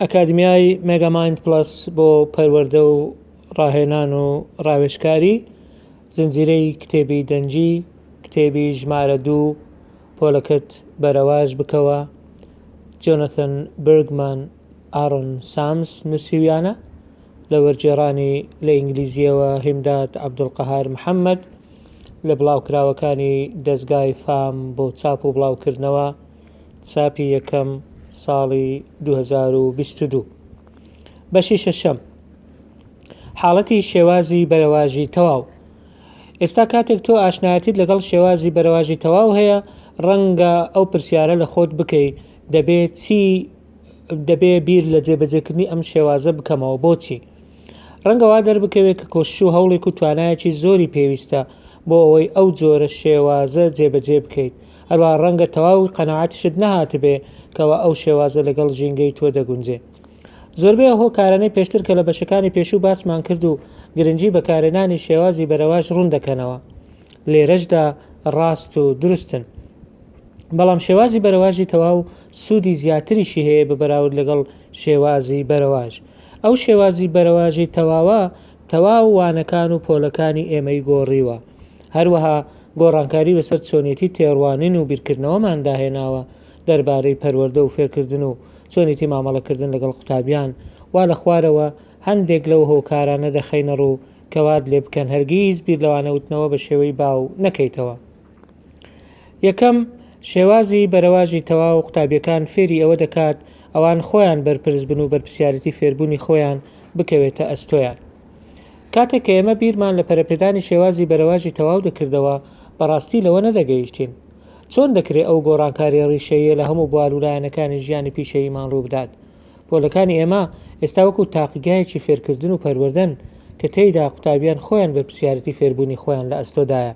ئەکادمیای مێگامایند پڵەس بۆ پەروەردە و ڕاهێنان و ڕاوێژکاری زنجیرەی کتێبی دەنگی کتێبی ژمارە دوو پۆلەکەت بەرەواژ بکەوە جۆنەتن برگمان ئارۆن سامس نووسیویانە لە وەرگێڕانی لە ئینگلیزیەوە هیمداد عەبدولقەهار محەممەد لە بڵاوکراوەکانی دەزگای فام بۆ چاپ و بڵاوکردنەوە چاپی یەکەم ساڵی 2022 بەشی شەشەم حاڵەتی شێوازی بەرەواژی تەواو ئێستا کاتێک تۆ ئاشنایەتیت لەگەڵ شێوازی بەرەواژی تەواو هەیە ڕەنگە ئەو پرسیارە لە خۆت بکەی دەبێ چی دەبێ بیر لە جێبەجێکردنی ئەم شێوازە بکەمەوە بۆچی ڕەنگەوا دەربکەوێت کە کۆشش و هەوڵێک و توانایەکی زۆری پێویستە بۆ ئەوەی ئەو جۆرە شێوازە جێبەجێ بکەیت هەروەها ڕەنگە تەواو قەناعەتیشت نەهاتبێ کەوا ئەو شێوازە لەگەڵ ژینگەی تۆ دەگونجێ. زۆربەی ئەو هۆکارانەی پێشتر کە لە بەشەکانی پێشوو باسمان کرد و گرنگی بەکارهێنانی شێوازی بەرەواش ڕوون دەکەنەوە لێرەشدا ڕاست و دروستن. بەڵام شێوازی بەرەواژی تەواو سوودی زیاتریشی هەیە بە بەراورد لەگەڵ شێوازی بەرەواژ. ئەو شێوازی بەرەواژی تەواوە تەواو وانەکان و پۆلەکانی ئێمەی گۆڕیوە. هەروەها گۆڕانکاری بەسەر چۆنیەتی تێڕوانین و بیرکردنەوەماندا هێناوە دەربارەی پەروەردە و فێرکردن و چۆنیەتی مامەڵەکردن لەگەڵ قوتابیان، وا لە خوارەوە هەندێک لەو هۆکارانە دەخەینەڕوو کە وات لێبکەن هەرگیز بیر لە وانەوتنەوە بە شێوەی باو نەکەیتەوە. یەکەم، شێوازی بەرەواژی تەواو قوتابیەکان فێری ئەوە دەکات ئەوان خۆیان بەرپرس بن و بەرپرسیارێتی فێربوونی خۆیان بکەوێتە ئەستۆیان. کاتێک کە ئێمە بیرمان لە پەرەپێدانی شێوازی بەرەواژی تەواو دەکردەوە، بەڕاستی لەوە نەدەگەیشتین چۆن دەکرێت ئەو گۆڕانکارییە ڕیشەییە لە هەموو بوار و لایەنەکانی ژیانی پیشەییمان ڕووبدات. پۆلەکانی ئێمە ئێستا وەکو تاقیگایەکی فێرکردن و پەروەردەن کە تێیدا قوتابیان خۆیان بەرپرسیارێتی فێربوونی خۆیان لە ئەستۆدایە.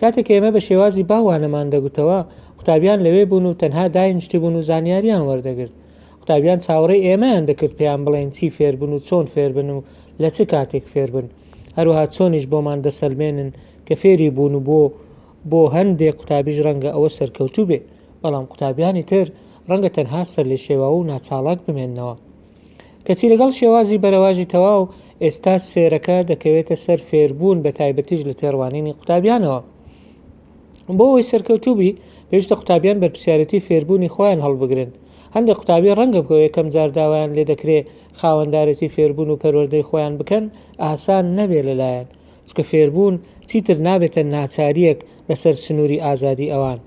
کاتێک کە ئێمە بە شێوازی باو وانەمان دەگوتەوە، قوتابیان لەوێ بوون و تەنها داینیشتبوون و زانیارییان وەردەگرت. قوتابیان چاوەڕێی ئێمەیان دەکرد پێیان بڵێن چی فێربن و چۆن فێربن و لە چ کاتێک فێربن هەروەها چۆنیش بۆمان دەسەلمێنن کە فێری بوون و بۆ بۆ هەندێ قوتابیش ڕەنگە ئەوە سەرکەوتوو بێ بەڵام قوتابیانی تر ڕەنگە تەنها سەر لێ شێوا و ناچاڵاک بمێنەوە کەچی لەگەڵ شێوازی بەرەواژی تەواو ئێستا سێرەکە دەکەوێتە سەر فێربوون بە تایبەتیش لە تێڕوانینی قوتابیانەوە بۆ ئەوی سەرکەوتوبی پێویستە قوتابیان بەرپسیارەتی فێربوونی خۆیان هەڵبگرن هەندێک قوتابی ڕەنگە بۆ یەکەم جار داوایان لێ دەکرێ خاوەندارێتی فێربوون و پەروەردەی خۆیان بکەن ئاسان نەبێ لەلایەن چکە فێربوون چیتر نابێتە ناچاریەک لەسەر سنووری ئازادی ئەوان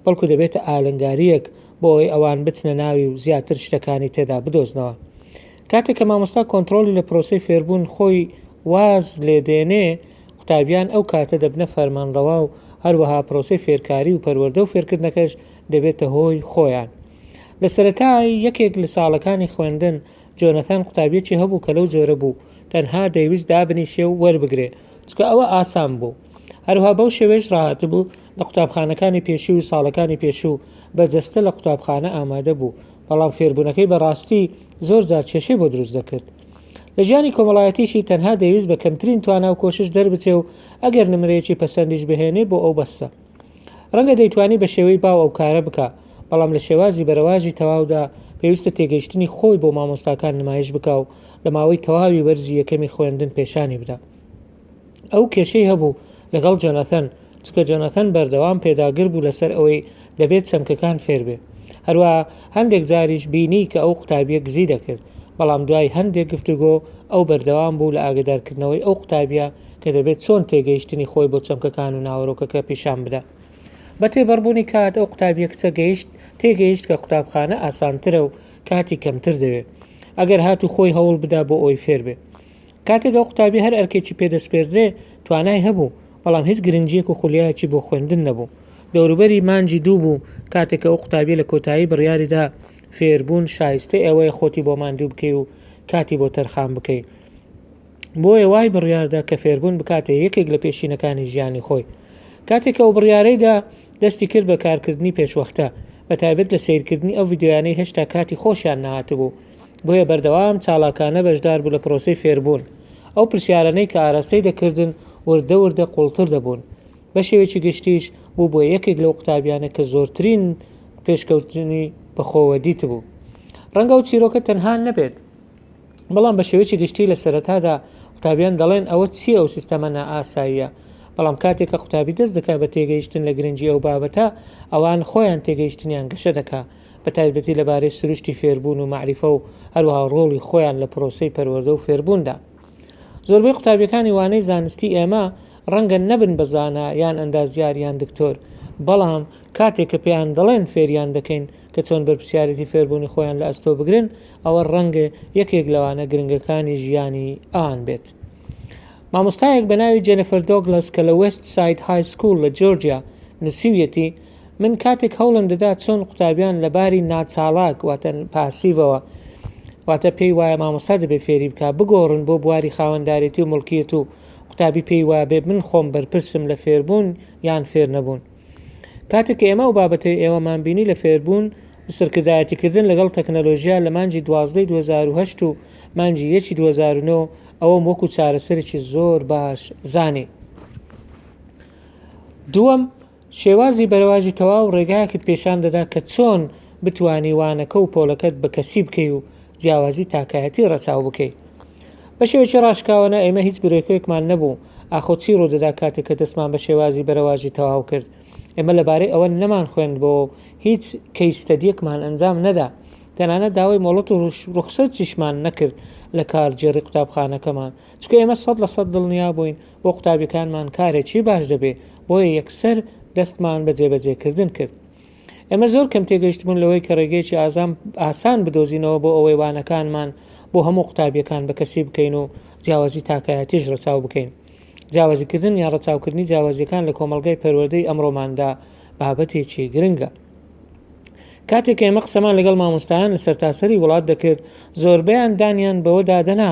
بەڵکو دەبێتە ئالنگاریەک بۆ ئەوەی ئەوان بچنە ناوی و زیاتر شتەکانی تێدا بدۆزنەوە کاتێک کە مامۆستا کۆنتترۆلی لە پرۆسی فێربوون خۆی واز لێدێنێ قوتابیان ئەو کاتە دەبنە فەرمانڕەوا و هەروەها پرۆسی فێرکاری و پەروەەردە و فێرکردنەکەش دەبێتە هۆی خۆیان. لە سەرەتای یەکێک لە ساڵەکانی خوێندن، جۆنەتان قوتابیەکی هەبوو کە لەو جۆرە بوو، تەنها دەیویست دابنیشێ و وەربگرێ، چونکە ئەوە ئاسان بوو. هەروها بەو شێوەیەش ڕاهاتبوو، لە قوتابخانەکانی پێشوو و ساڵەکانی پێشوو بە جەستە لە قوتابخانە ئامادە بوو، بەڵام فێربوونەکەی بە ڕاستی زۆر جار کێشەی بۆ دروست دەکرد. لە ژیانی کۆمەڵایەتیشی تەنها دەیویست بە کەمترین توانا و کۆشش دەربچێ و ئەگەر نمرەیەکی پەسەندیش بهێنێ بۆ ئەو بەسە. ڕەنگە دەیتوانی بە شێوەی باو ئەو کارە بکا، بەڵام لە شێوازی بەرەواژی تەواودا پێویستە تێگەیشتنی خۆی بۆ مامۆستاکان نمایش بکا و لە ماوەی تەواوی وەرزی یەکەمی خوێندن پێشانی بدا. ئەو کێشەی هەبوو لەگەڵ جۆناثەن، چونکە جۆناثەن بەردەوام پێداگر بوو لەسەر ئەوەی دەبێت چەمکەکان فێربێ. هەروەها هەندێک جاریش بینی کە ئەو قوتابییە گزی دەکرد، بەڵام دوای هەندێک گفتوگۆ، ئەو بەردەوام بوو لە ئاگەدارکردنەوەی ئەو قوتابییە کە دەبێت چۆن تێگەیشتنی خۆی بۆ چەمکەکان و ناوەرۆکەکە پیشان بدا. بە تێپەڕبوونی کات، ئەو قوتابییە کچە گەیشت تێگەیشت کە قوتابخانە ئاسانترە و کاتی کەمتر دەوێت، ئەگەر هاتوو خۆی هەوڵ بدا بۆ ئەوەی فێر بێت. کاتێک ئەو قوتابیە هەر ئەرکێکی پێ دەسپێردرێ توانای هەبوو، بەڵام هیچ گرنگیەک و خولیایەکی بۆ خوێندن نەبوو. دەوروبەری مانگی دوو بوو کاتێک کە ئەو قوتابیە لە کۆتایی بڕیاری دا فێربوون شایستەی ئەوەیە خۆتی بۆ ماندوو بکەی و کاتی بۆ تەرخان بکەی. بۆیە وای بڕیاردا کە فێربوون بکاتە یەکێک لە پێشینەکانی ژیانی خۆی. کاتێک ئەو بڕیارەی دا دەستی کرد بە کارکردنی پێشوەختە، بە تایبەت لە سەیرکردنی ئەو ڤیدیۆیانەی هێشتا کاتی خۆشیان نەهاتبوو. بۆیە بەردەوام چالاکانە بەشدار بوو لە پرۆسەی فێربوون، ئەو پرسیارانەی کە ئاراستەی دەکردن وردە وردە قوڵتر دەبوون، بە شێوەیەکی گشتیش بووبووە یەکێک لەو قوتابیانە کە زۆرترین پێشکەوتنی بەخۆوە دیتبوو. ڕەنگە ئەو چیرۆکە تەنها نەبێت، بەڵام بە شێوەیەکی گشتی لە سەرەتادا قوتابیان دەڵێن ئەوە چییە ئەو سیستەمە نائاساییە، بەڵام کاتێک کە قوتابی دەست دەکات بە تێگەیشتن لە گرنگی ئەو بابەتە، ئەوان خۆیان تێگەیشتنیان گەشە دەکات. بە تایبەتی لەبارەی سروشتی فێربوون و مەعریفە و هەروەها ڕۆڵی خۆیان لە پرۆسەی پەروەردە و فێربووندا. زۆربەی قوتابیەکانی وانەی زانستی ئێمە ڕەنگە نەبن بە زانا یان ئەندازیار یان دکتۆر، بەڵام کاتێک کە پێیان دەڵێن فێریان دەکەین کە چۆن بەرپرسیارێتی فێربوونی خۆیان لە ئەستۆ بگرن، ئەوە ڕەنگە یەکێک لە وانە گرنگەکانی ژیانی ئەوان بێت. مامۆستایەک بە ناوی جێنفەر دۆگلەس کە لە وێست ساید های سکوڵ لە جۆرجیا نووسیویەتی، من کاتێک هەوڵم دەدا چۆن قوتابیان لە باری ناچاڵاک واتە پاسیڤەوە واتە پێی وایە مامۆستا دەبێ فێری بکە بگۆڕن بۆ بواری خاوەندارێتی و مڵکیت و قوتابی پێی وابێ من خۆم بەرپرسم لە فێربوون یان فێر نەبوون کاتێک ئێمە و بابەتەی ئێوەمان بینی لە فێربوون و سەرکردایەتیکردن لەگەڵ تەکنەلۆژیا لە مانجی دوازدەی 2010 و مانجی یەکی 2009 ئەوەم وەکو چارەسەرێکی زۆر باش زانی دووەم شێوازی بەرەواژی تەواو ڕێگایەکت پێشان دەدا کە چۆن بتوانی وانەکە و پۆلەکەت بە کەسی بکەی و جیاوازی تاکایەتی ڕەچاو بکەی. بە شێوەکی ڕاشکاوە نا ئێمە هیچ برۆکوێکمان نەبوو ئاخۆ چی ڕوو دەدا کاتێک کە دەستمان بە شێوازی بەرەواژی تەواو کرد ئێمە لە بارەی ئەوە نەمان خوێندبۆوە و هیچ کەیس ستەدیەکمان ئەنجام نەدا تەنانەت داوای مۆڵەت و ڕوخسەتیشمان نەکرد لە کارگێڕی قوتابخانەکەمان چونکە ئێمە سەد لە سەد دڵنیا بووین بۆ قوتابیەکانمان کارێکی باش دەبێ بۆیە یەکسەر دەستمان بە جێبەجێکردن کرد ئێمە زۆر کەم تێگەیشتبوون لەوەی کە ڕێگەیەکی ئازام ئاسان بدۆزینەوە بۆ ئەوەی وانەکانمان بۆ هەموو قوتابیەکان بە کەسی بکەین و جیاوازی تاکایەتیش ڕەچاو بکەین جیاوازیکردن یا ڕەچاوکردنی جیاوازیەکان لە کۆمەلگای پەروەردەی ئەمڕۆماندا بابەتێکی گرنگە کاتێک ئێمە قسەمان لەگەڵ مامۆستایان لە سەرتاسەری وڵات دەکرد زۆربیان دانیان بەوەدا دەنا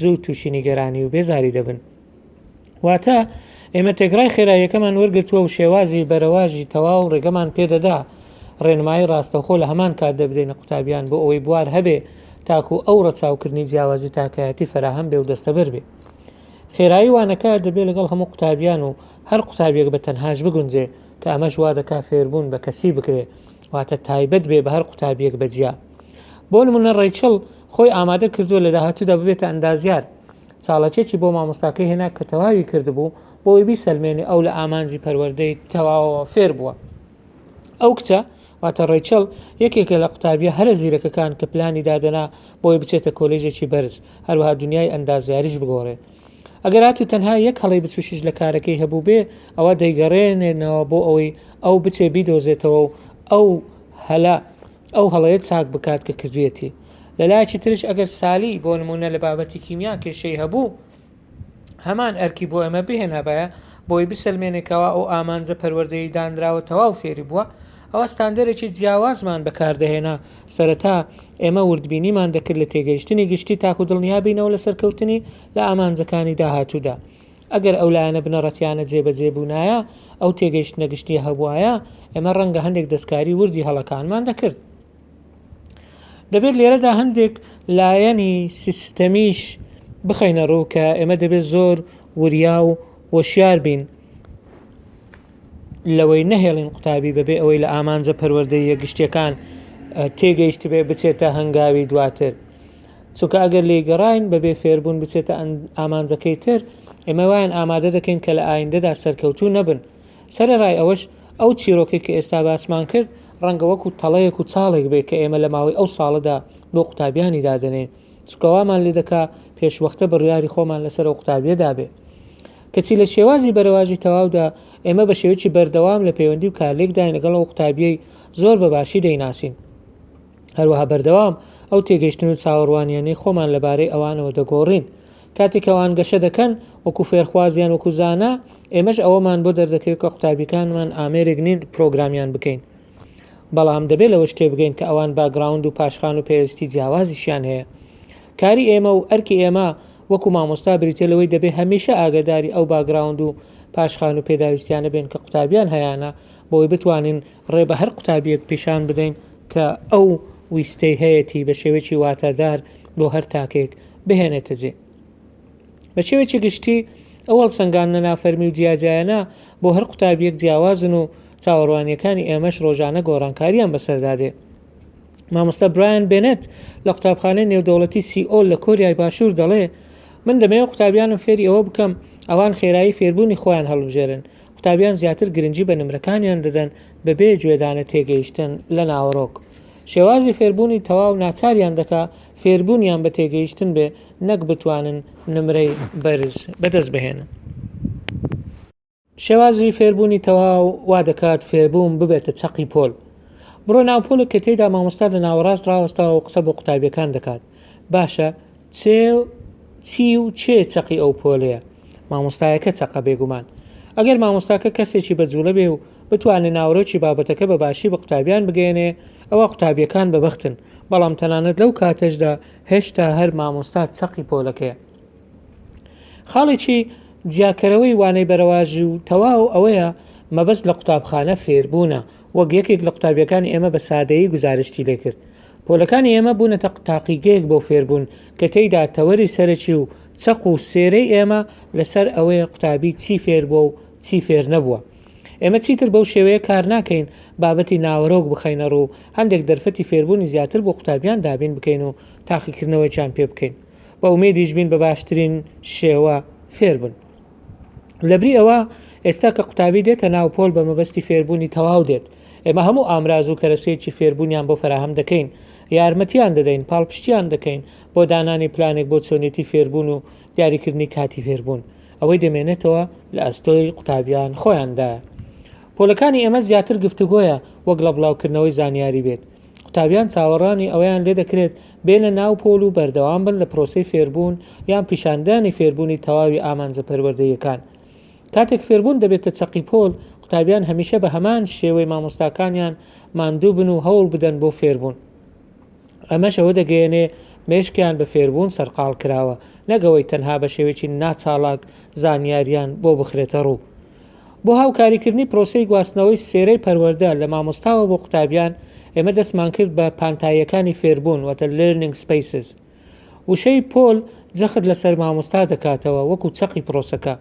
زوو تووشی نیگەرانی و بێزاری دەبن. واتە ئێمە تێگرای خێراییەکەمان وەرگرتووە و شێوازی بەرەواژی تەواو ڕێگەمان پێدەدا ڕێنمایی ڕاستەخۆ لە هەمان کات دەبدەینە قوتابیان بۆ ئەوەی بوار هەبێ تاکو ئەو ڕەچاوکردنی جیاوازی تاکایەتی فراهەم بێ و دەستەبەر بێ خێرایی وانەکە دەبێت لەگەڵ هەموو قوتابیان و هەر قوتابیەک بە تەنهاش بگونجێ کە ئەمەش وا دەکا فێربوون بە کەسی بکرێ واتە تایبەت بێ بە هەر قوتابیەک بە جیا بۆ نمونە ڕیچڵ خۆی ئامادە کردووە لە داهاتوودا ببێتە ئەندازیار چاڵەکێکی بۆ مامۆستاکەی هێنا کە تەواوی کردبوو بۆی بیسەلمێنێ ئەو لە ئامانجی پەروەردەی تەواوەوە فێر بووە ئەو کچە واتە ڕیچڵ یەکێکە لە قوتابیە هەرە زیرەکەکان کە پلانی دادەنا بۆی بچێتە کۆلێژێکی بەرز هەروها دنیای ئەندازیاریش بگۆڕێ ئەگەر هاتوو تەنها یەک هەڵەی بچوشیش لە کارەکەی هەبوو بێ ئەوە دەیگەڕێنێنەوە بۆ ئەوەی ئەو بچێ بیدۆزێتەوە و ئەو هەلا ئەو هەڵەیە چاک بکات کە کردوێتی لەلایەکی ترش ئەگەر سالی بۆ نمونە لە بابەتی کیمیا کێشەی هەبوو هەمان ئەرکی بۆ ئەمە بهێنابایە بۆی بسەلمێنێکەوە ئەو ئامانجە پەروەردەی دانراوە تەواو فێری بووە ئەوە ستاندەرێکی جیاوازمان بەکاردەهێنا سەرەتا ئێمە وردبینیمان دەکرد لە تێگەیشتنی گشتی تاکو دڵنیا بینەوە لە سەرکەوتنی لە ئامانجەکانی داهاتوودا. ئەگەر ئەو لایەنە بنەڕەتییانە جێبەجێ بوونایە، ئەو تێگەیشتنە گشتییە هەبووایە، ئێمە ڕەنگە هەندێک دەستکاری وردی هەڵەکانمان دەکرد. دەبێت لێرەدا هەندێک لایەنی سیستەمیش بخەینە ڕوو کە ئێمە دەبێت زۆر وریا و وەشیار بین. لەوەی نەهێڵین قوتابی بەبێ ئەوەی لە ئامانجە پەروەردەییە گشتیەکان تێگەیشتبێ بچێتە هەنگاوی دواتر چونکە ئەگەر لێی گەڕین بەبێ فێربوون بچێتە ئامانجەکەی تر ئێمە وایان ئامادە دەکەین کە لە ئایندەدا سەرکەوتوو نەبن سەرەڕای ئەوەش ئەو چیرۆکێک کە ئێستا باسمان کرد ڕەنگە وەکو تەڵەیەک و چاڵێک بێ کە ئێمە لە ماوەی ئەو ساڵەدا بۆ قوتابیانی دادنێن چکەوامان لێ دەکا پێشوەختە بڕیاری خۆمان لەسەر ئەو قوتابیەدا بێ کەچی لە شێوازی بەرەواژی تەواودا ئێمە بە شێوەیەکی بەردەوام لە پەیوەندی و کارلێکداین لەگەڵ ئەو قوتابییەی زۆر بە باشی دەیناسین. هەروەها بەردەوام ئەو تێگەیشتن و چاوەڕوانییانەی خۆمان لەبارەی ئەوانەوە دەگۆڕین. کاتێک ئەوان گەشە دەکەن وەکو فێرخواز یان وەکو زانا، ئێمەش ئەوەمان بۆ دەردەکەوێت کە قوتابییەکانمان ئامێرێک نین پرۆگرامیان بکەین. بەڵام دەبێت لەوەش تێبگەین کە ئەوان باکگراوند و پاشخان و پێویستی جیاوازیشیان هەیە. کاری ئێمە و ئەرکی ئێمە وەکو مامۆستا بریتیە لەوەی دەبێ هەمیشە ئاگەداری ئەو باگراوند و پاشخان و پێداویستیانە بێن کە قوتابیان هەیانە بۆی بتوانین ڕێ بە هەر قوتابیەک پیشان بدەین کە ئەو ویستەی هەیەتی بە شێوەیەکی واتادار بۆ هەر تاکێک بهێنێتە جێ بە شێوەیەکی گشتی ئەو هەڵسەنگاندنە نافەرمی و جیاجیایانە بۆ هەر قوتابیەک جیاوازن و چاوەڕوانیەکانی ئێمەش ڕۆژانە گۆڕانکاریان بەسەردادێ مامۆستا برایان بێنێت لە قوتابخانەی نێودەوڵەتی سیئۆل لە کۆریای باشوور دەڵێ من دەمەوێت قوتابیانم فێری ئەوە بکەم ئەوان خێرایی فێربوونی خۆیان هەڵبژێرن قوتابیان زیاتر گرنگی بە نمرەکانیان دەدەن بەبێ گوێدانە تێگەیشتن لە ناوەڕۆک شێوازی فێربوونی تەواو ناچاریان دەکا فێربوونیان بە تێگەیشتن بێ نەک بتوانن نمرەی بەرز بەدەست بهێنن شێوازی فێربوونی تەواو وا دەکات فێربووم ببێتە چەقی پۆل. بڕۆ ناو پۆلێک کە تێیدا مامۆستا لە ناوەڕاست ڕاوەستاوە و قسە بۆ قوتابییەکان دەکات. باشە چێ و چی و کێ چەقی ئەو پۆلەیە؟ مامۆستایەکە چەقە بێگومان. ئەگەر مامۆستاکە کەسێکی بە جووڵە بێ و بتوانێ ناوەرۆکی بابەتەکە بە باشی بە قوتابییان بگەیەنێ ئەوا قوتابییەکان بە بەختن، بەڵام تەنانەت لەو کاتەشدا هێشتا هەر مامۆستا چەقی پۆلەکەیە. خاڵێکی جیاکەرەوەی وانەی بەرەواژی و تەواو ئەوەیە مەبەست لە قوتابخانە فێربوونە وەک یەکێک لە قوتابیەکانی ئێمە بە سادەیی گوزارشتی لێکرد پۆلەکانی ئێمە بوونەتە تاقیگەیەک بۆ فێربوون کە تێیدا تەوەری سەرەکی و چەق و سێرەی ئێمە لەسەر ئەوەیە قوتابی چی فێر بووە و چی فێر نەبووە ئێمە چیتر بەو شێوەیە کار ناکەین بابەتی ناوەرۆک بخەینە ڕوو هەندێک دەرفەتی فێربوونی زیاتر بۆ قوتابیان دابین بکەین و تاقیکردنەوەیان پێ بکەین بە ئومێدیش بین بە باشترین شێوە فێربن لەبری ئەوە ئێستا کە قوتابی دێتە ناو پۆل بە مەبەستی فێربوونی تەواو دێت ئێمە هەموو ئامراز و کەرەسەیەکی فێربوونیان بۆ فراهەم دەکەین یارمەتیان دەدەین پاڵپشتیان دەکەین بۆ دانانی پلانێک بۆ چۆنێتی فێربوون و دیاریکردنی کاتی فێربوون ئەوەی دەمێنێتەوە لە ئەستۆی قوتابیان خۆیاندا پۆلەکانی ئێمە زیاتر گفتوگۆیە وەک لە بڵاوکردنەوەی زانیاری بێت قوتابیان چاوەڕانی ئەوەیان لێ دەکرێت بێنە ناو پۆل و بەردەوام بن لە پرۆسەی فێربوون یان پیشاندانی فێربوونی تەواوی ئامانجە پەروەردەییەکان کاتێک فێربوون دەبێتە چەقی پۆل قوتابیان هەمیشە بە هەمان شێوەی مامۆستاکانیان ماندوو بن و هەوڵ بدەن بۆ فێربوون ئەمەش ئەوە دەگەیەنێ مێشکیان بە فێربوون سەرقاڵ کراوە نەگەوەی تەنها بە شێوێکی ناچاڵاک زانیاریان بۆ بخرێتە ڕوو بۆ هاوکاریکردنی پرۆسەی گواستنەوەی سێرەی پەروەردە لە مامۆستاوە بۆ قوتابیان، ئێمە دەستمان کرد بە پانتاییەکانی فێربوون واتە Learning Spaces. وشەی پۆل جەخت لەسەر مامۆستا دەکاتەوە وەکو چەقی پرۆسەکە.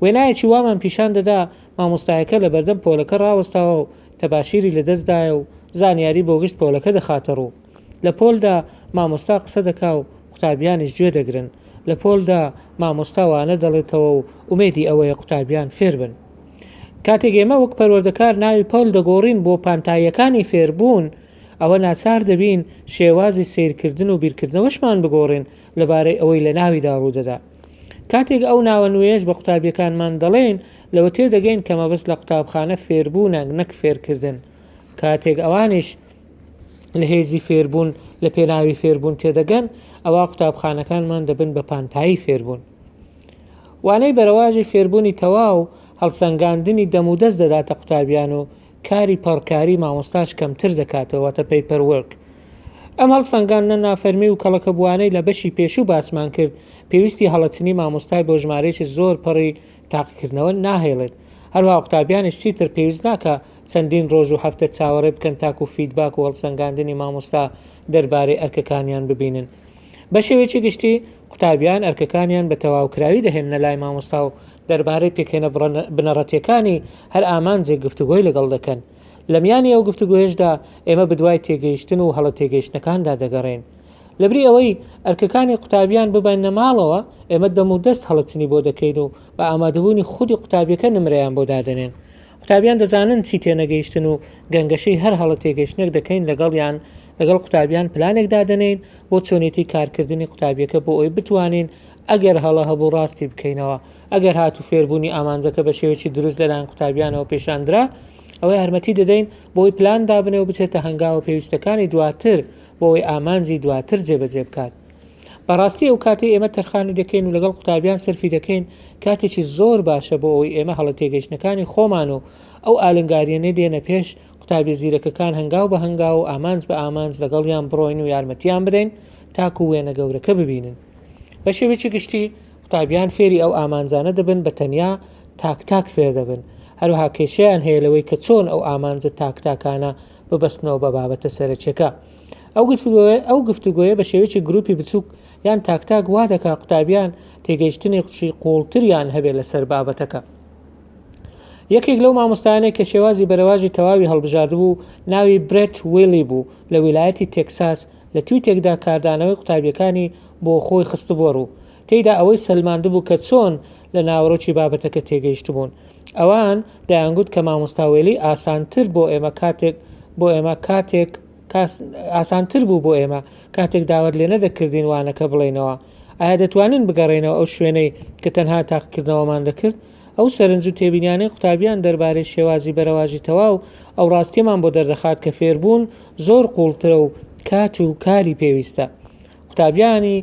وێنایەکی وامان پیشان دەدا مامۆستایەکە لەبەردەم پۆلەکە ڕاوەستاوە و تەباشیری لەدەستدایە و زانیاری بۆ گشت پۆلەکە دەخاتەڕوو. لە پۆلدا مامۆستا قسە دەکا و قوتابیانیش گوێ دەگرن، لە پۆلدا مامۆستا وانە دەڵێتەوە و ئومێدی ئەوەیە قوتابیان فێر بن. کاتێک ئێمە وەک پەروەردەکار ناوی پۆل دەگۆڕین بۆ پانتاییەکانی فێربوون، ئەوە ناچار دەبین شێوازی سەیرکردن و بیرکردنەوەشمان بگۆڕین لەبارەی ئەوەی لە ناویدا ڕوو دەدا. کاتێک ئەو ناوە نوێیەش بە قوتابییەکانمان دەڵێین، لەوە تێدەگەین کە مەبەست لە قوتابخانە فێربوونە نەک فێرکردن. کاتێک ئەوانیش. لە هێزی فێربوون لە پێناوی فێربوون تێدەگەن ئەوە قوتابخانەکانمان دەبن بە پانتایی فێربوون وانەی بەرەواژی فێربوونی تەواو هەڵسەنگاندنی دەمودەست دەداتە قوتابیان و کاری پەڕکاری مامۆستاش کەمتر دەکاتەوەتە پەیپەرورک ئەم هەڵسەنگاندنە نافەرمی و کەڵەکە بووانەی لە بەشی پێشوو باسمان کرد پێویستی هەڵەچنی مامۆستای بۆ ژمارەیەکی زۆر پەڕی تاقیکردنەوە ناهێڵێت، هەروەها قوتابیانیش چیتر پێویست ناکا چەندین ڕۆژ و هەفتە چاوەڕێ بکەن تاکوو فیدباک و هەڵسەنگاندنی مامۆستا دەربارەی ئەرکەکانیان ببینن. بە شێوەیەکی گشتی، قوتابیان ئەرکەکانیان بە تەواوکراوی دەهێننە لای مامۆستا و دەربارەی پێکهێنە بنەڕەتییەکانی هەر ئامانجێک گفتوگۆی لەگەڵ دەکەن. لە میانی ئەو گفتوگۆیەشدا ئێمە بدوای تێگەیشتن و هەڵە تێگەیشتنەکاندا دەگەڕێین. لەبری ئەوەی ئەرکەکانی قوتابیان ببەنە ماڵەوە ئێمە دەم و دەست هەڵەچنی بۆ دەکەین و بە ئامادەبوونی خودی قوتابیەکە نمرەیان بۆ دادەنێن قوتابیان دەزانن چی تێنەگەیشتن و گەنگەشەی هەر هەڵە تێگەشتنێک دەکەین لەگەڵیان لەگەڵ قوتابیان پلانێک دادەنین بۆ چۆنێتی کارکردنی قوتابیەکە بۆ ئەوی بتوانین ئەگەر هەڵە هەبوو ڕاستی بکەینەوە ئەگەر هات و فێربوونی ئامانجەکە بە شێوەی دروست لەلایەن قوتابیانەوە پێشاندرا ئەوەی هەرمەتی دەدەین بۆی پلان دابنێ و بچێتە هەنگاوە پێویستەکانی دواتر بۆ ئەوەی ئامانجی دواتر جێبەجێ بکات بەڕاستی ئەو کاتی ئێمە تەرخانی دەکەین و لەگەڵ قوتابیان سەرفی دەکەین کاتێکی زۆر باشە بۆ ئەوەی ئێمە هەڵە تێگەیشتنەکانی خۆمان و ئەو ئالنگاریەنێ دێنە پێش قوتابی زیرەکەکان هەنگاو بە هەنگاو و ئامانج بە ئامانج لەگەڵیان بڕۆین و یارمەتیان بدەین تاکو وێنە گەورەکە ببینن بە شێوێکی گشتی قوتابیان فێری ئەو ئامانجانە دەبن بە تەنیا تاک تاک فێر دەبن هەروها کێشیان هەیە لەوەی کە چۆن ئەو ئامانجە تاک تاکانە ببەستنەوە بە بابەتە سەرەکیەکە ئەو گفتوگۆیە بە شێوەیەکی گروپی بچووک یان تاکتاک وا دەکا قوتابیان تێگەیشتنی قچی قوڵتریان هەبێت لەسەر بابەتەکە یەکێک لەو مامۆستایانێک کە شێوازی بەرەواژی تەواوی هەڵبژاردبوو ناوی برێت ویلی بوو لە ویلایەتی تێکساس لە تویتێکدا کاردانەوەی قوتابیەکانی بۆ خۆی خستبووە ڕوو تێدا ئەوەی سەلماندبوو کە چۆن لە ناوەرۆکی بابەتەکە تێگەیشتبوون. ئەوان دەیانگوت کە مامۆستا وێلی ئاسانتر بۆ ئێمە کاتێک بۆ ئێمە کاتێک ئاسانتر بوو بۆ ئێمە کاتێک داوات لێ نەدەکردین وانەکە بڵێنەوە ئایا دەتوانن بگەڕێنەوە ئەو شوێنەی کە تەنها تاقکردنەوەمان دەکرد ئەو سەرنج و تێبینیانەی قوتابیان دەربارەی شێوازی بەرەواژی تەواو ئەو ڕاستیەمان بۆ دەردەخات کە فێربوون زۆر قوڵترە و کات و کاری پێویستە قوتابیانی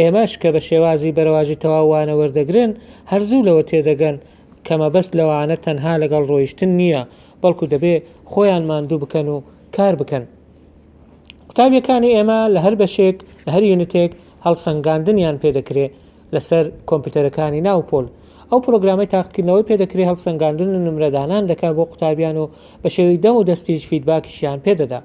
ئێمەش کە بە شێوازی بەرەواجی تەواو وانە وەردەگرن، هەر زوو لەوە تێدەگەن کە مەبەست لە وانە تەنها لەگەڵ ڕۆیشتن نییە، بەڵکو دەبێ خۆیان ماندوو بکەن و کار بکەن. قوتابیەکانی ئێمە لە هەر بەشێک، لە هەر یونتێک هەڵسەنگاندنیان پێ دەکرێ. لەسەر کۆمپیوتەرەکانی ناو پۆل. ئەو پرۆگرامەی تاقیکردنەوەی پێدەکرێ هەڵسەنگاندن و نمرەدانان دەکا بۆ قوتابیان و بە شێوەی دەم و دەستیش فیدباکیشیان پێدەدا.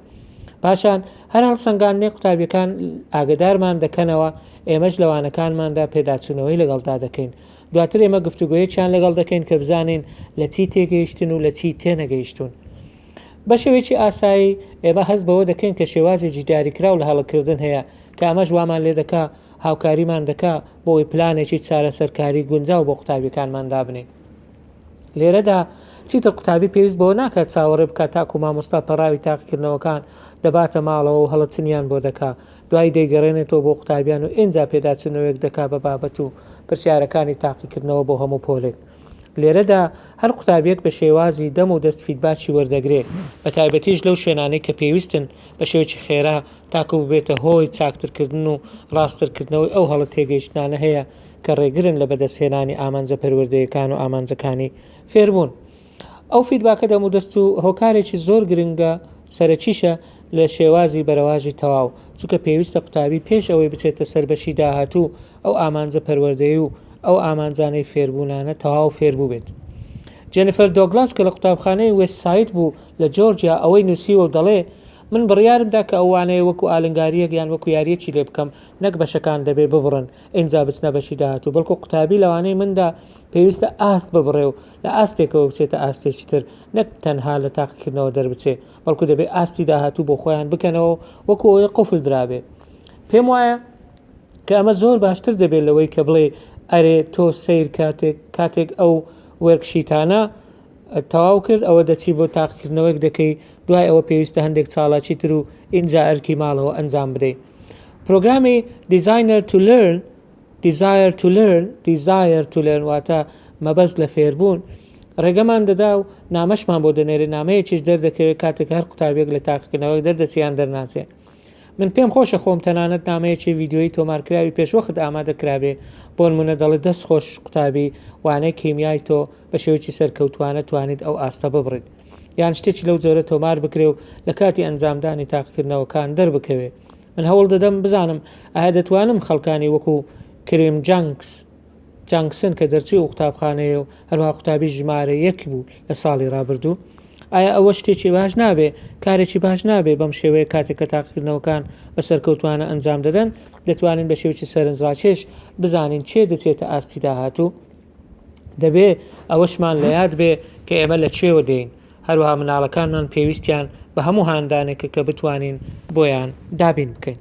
پاشان هەر هەڵسەنگاندنێک قوتابیەکان ئاگەدارمان دەکەنەوە، ئێمەش لە وانەکانماندا پێداچوونەوەی لەگەڵدا دەکەین. دواتر ئێمە گفتوگۆیەکیان لەگەڵ دەکەین کە بزانین لە چی تێگەیشتن و لە چی تێنەگەیشتوون. بە شێوەیەکی ئاسایی ئێمە هەست بەوە دەکەین کە شێوازێکی دیاریکراو لە هەڵەکردن هەیە کە ئەمەش وامان لێدەکا هاوکاریمان دەکا بۆوەی پلانێکی چارەسەرکاری گونجاو بۆ قوتابیەکانمان دابنێین. لێرەدا چیتر قوتابی پێویست بەوە ناکات چاوەڕێ بکات تاکو مامۆستا پەڕاوی تاقیکردنەوەکان دەباتە ماڵەوە و هەڵەچنیان بۆ دەکا، دوایی دەیگەڕێنێتەوە بۆ قوتابیان و ئینجا پێداچونەوەیەک دەکا بە بابەت و پرسیارەکانی تاقیکردنەوە بۆ هەموو پۆلێک. لێرەدا هەر قوتابیەک بە شێوازی دەم و دەست فیدباکی وەردەگرێ، بەتایبەتیش لەو شوێنانەی کە پێویستن بە شێوەکی خێرا تاکو ببێتە هۆی چاکترکردن و ڕاستترکردنەوەی ئەو هەڵە تێگەیشتنانە هەیە کە ڕێگرن لە بەدەستهێنانی ئامانجە پەروەردەیەکان و ئامانجەکانی فێربوون. ئەو فیدباکە دەمودەست و هۆکارێکی زۆر گرنگە سەرەکیشە لە شێوازی بەرەواژی تەواو، چونکە پێویستە قوتابی پێش ئەوەی بچێتە سەر بەشی داهاتوو ئەو ئامانجە پەروەردەی و ئەو ئامانجانەی فێربوونانە تەواو فێربووبێت. جێنیفەر دۆگلاس کە لە قوتابخانەی وێست ساید بوو لە جۆرجیا ئەوەی نووسیوە و دەڵێ، من بڕیارم دا کە ئەو وانەیە وەکو ئالنگارییەک یان وەکو یارییەکی لێ بکەم، نەک بەشەکان دەبێ ببڕن ئینجا بچنە بەشی داهاتوو، بەڵکو قوتابی لەوانەی مندا پێویستە ئاست ببڕێ و لە ئاستێکەوە بچێتە ئاستێکی تر، نەک تەنها لە تاقیکردنەوە دەربچێ، بەڵکو دەبێ ئاستی داهاتوو بۆ خۆیان بکەنەوە و وەکو ئەوەی قفل درابێ. پێم وایە کە ئەمە زۆر باشتر دەبێ لەوەی کە بڵێی ئەرێ تۆ سەیر کاتێک کاتێک ئەو وێرکشیتانە تەواو کرد ئەوە دەچی بۆ تاقیکردنەوەیەک دەکەی دوای ئەوە پێویستە هەندێک چاڵاکی تر و ئینجا ئەرکی ماڵەوە ئەنجام بدەیت پرۆگرامی Designer to Learn Desire to Learn Desire to Learn واتە مەبەست لە فێربوون ڕێگەمان دەدا و نامەشمان بۆ دەنێرێ نامەیەکیش دەردەکەوێت کاتێک هەر قوتابێک لە تاقیکردنەوەک دەردەچیان دەرناچێت من پێم خۆشە خۆم تەنانەت نامەیەکی ڤیدیۆیی تۆمارکراوی پێشوەخت ئامادە کرابێ، بۆنموونە دەڵێ دەست خۆش قوتابی وانەی کیمیای تۆ بە شێوەیەکی سەرکەوتووانە توانیت ئەو ئاستە ببڕیت. یان شتێکی لەو جۆرە تۆمار بکرێ و لە کاتی ئەنجامدانی تاقیکردنەوەکان دەربکەوێ. من هەوڵ دەدەم بزانم ئایا دەتوانم خەڵکانی وەکوو کریم جانکس، جانگسن کە دەرچووی ئەو قوتابخانەیە و هەروها قوتابی ژمارە یەک بوو لە ساڵی ڕابردوو ئایا ئەوە شتێکی باش نابێ کارێکی باش نابێ بەم شێوەیە کاتێک کە تاقیکردنەوەکان بە سەرکەوتوانە ئەنجام دەدەن دەتوانین بە شێوکی سەرنجڕاکێش بزانین چێ دەچێتە ئاستی داهاتوو دەبێ ئەوەشمان لە یاد بێ کە ئێمە لە چێوە دێین هەروها مناڵەکانمان پێویستیان بە هەموو هاندانێکە کە بتوانین بۆیان دابین بکەین